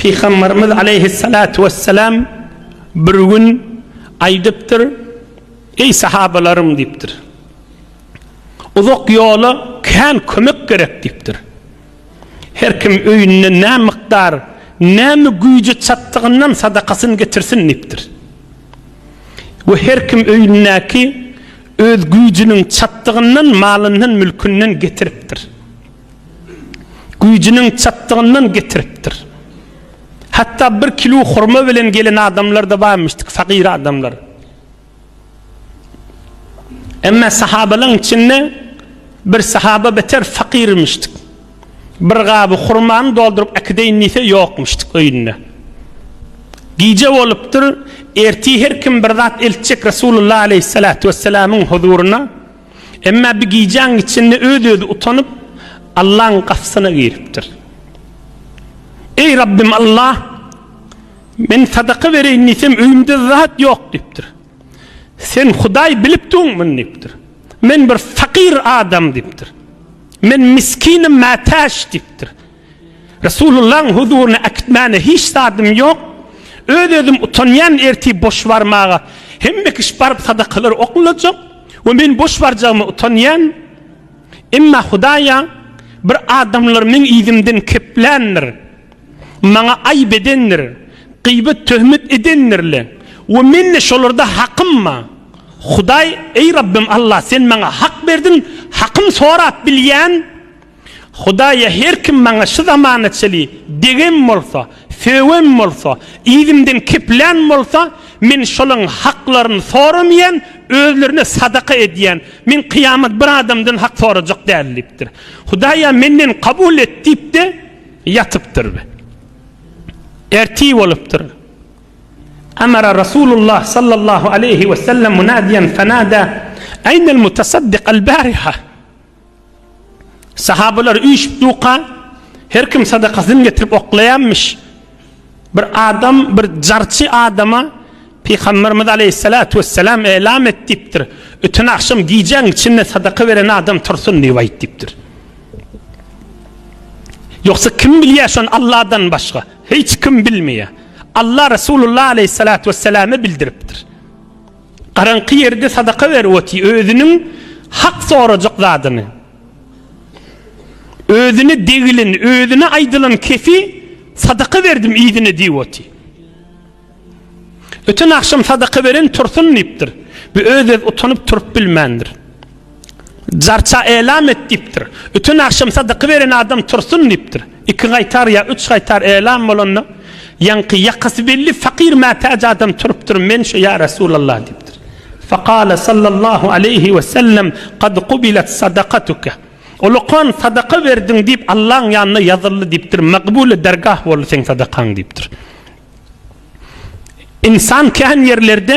Pygamberimiz aleýhissalatu wessalam bir gün aýdypdyr, Eý sahabalarym diýipdir. Uzak ýola kän kömek gerek diýipdir. Her kim öýünde nä mykdar, näme güýji çatdygyndan sadakasyny getirsin diýipdir. We her kim öýündäki öz güýjüniň çatdygyndan malyndan mülkünden getiripdir. güýjüniň çatdygyndan getiripdir. Hatda bir kilu hurma bilen gelen adamlar-da barmyşdyk, fakyr adamlar. Emma sahabalaň içinde bir sahaba beter fakyrmyşdyk. Bir gaby hurmany dolduryp äkideýin diýse ýokmuşdyk öýünde. Gije bolupdyr, erti her kim bir zat eltjek Resulullah aleyhissalatu wesselamyň huzuryna. Emma bir gijäň içinde öz-özi utanyp, Allaň gapysyna giripdir. Eý, Rabbym Alla! Men sadaka bereýin diýsem, öýümde zat ýok diýipdir. Sen Hudaý bilip duň muny diýipdir. Men bir fakyr adam diýipdir. Men miskinim mätäç diýipdir. Resulullahyň huzuryna äkitmäne hiç zadym ýok. Öz-özüm utanýan ertir boş barmaga. Hemme kişi baryp sadakalary oklajak we men boş barjagyma utanýan. Emma Hudaýa bir adamlar meň yzymdan kepländir. Maňa aýyp edendir. Gyýbat töhmet edendirle we mende şolarda hakym bar. Hudaý, Eý Rabbym Allah, sen maňa hak berdiň, hakym sorap bilýän Hudaýa her kim maňa şu zamana çeli degem bolsa, sögem bolsa, yzymdan keplän bolsa, men şolaň haklaryny soramaýan, özlerine sadaka edýän. Men kyýamat bir adamdan hak sorajak däl diýipdir. Hudaýa menden kabul et diýip-de ýatypdyr. Ertir bolupdyr. Amara Rasulullah sallallahu aleýhi wesellem munadiýen fenada, Aýnel mutasaddyk al-bariha? Sahabalar üýşüp duka, her kim sadakasyny getirip oklaýanmyş. Bir adam bir jarçy adama Pygamberimiz aleýhissalatu wessalam elam et diýipdir. Öten agşam gijäň içinde sadaka beren adam tursun diýip aýt diýipdir. Yoksa kim bilýär şon Allahdan başga? Hiç kim bilmeýär. Allah Resulullah aleyhissalatu vesselam'a bildiripdir. Garaňky ýerde sadaka berip otyr, özüniň hak sorajak zadyny, özüne degileni, özüne aýdylan kefi sadaka berdim yzyna diýip otyr. Öten agşam sadaka beren tursun diýipdir. Bu öz-öz utanyp turup bilmändir. Jarça elam et diýipdir. Öten agşam sadaky beren adam tursun diýipdir. Iki gaýtar ýa üç gaýtar elam bolanda, ýaňky ýakasy belli fakyr mätäç adam turupdyr, Men şu ýa Resulallah diýipdir. Fakale sallallahu aleýhi we sellem, Kad kubilet sadakatuke. Ol okan sadaka berdiň diýip Allaň ýanynda ýazyldy diýipdir, Magbule dergah boldy seň sadakaň diýipdir. Ynsan kän ýerlerde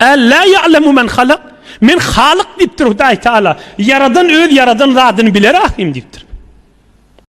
Ellä ýa'lemu men halak, Men Halyk diýipdir Hudaý Teala. Ýaradan öz ýaradan zadyny biler ahyryn diýipdir.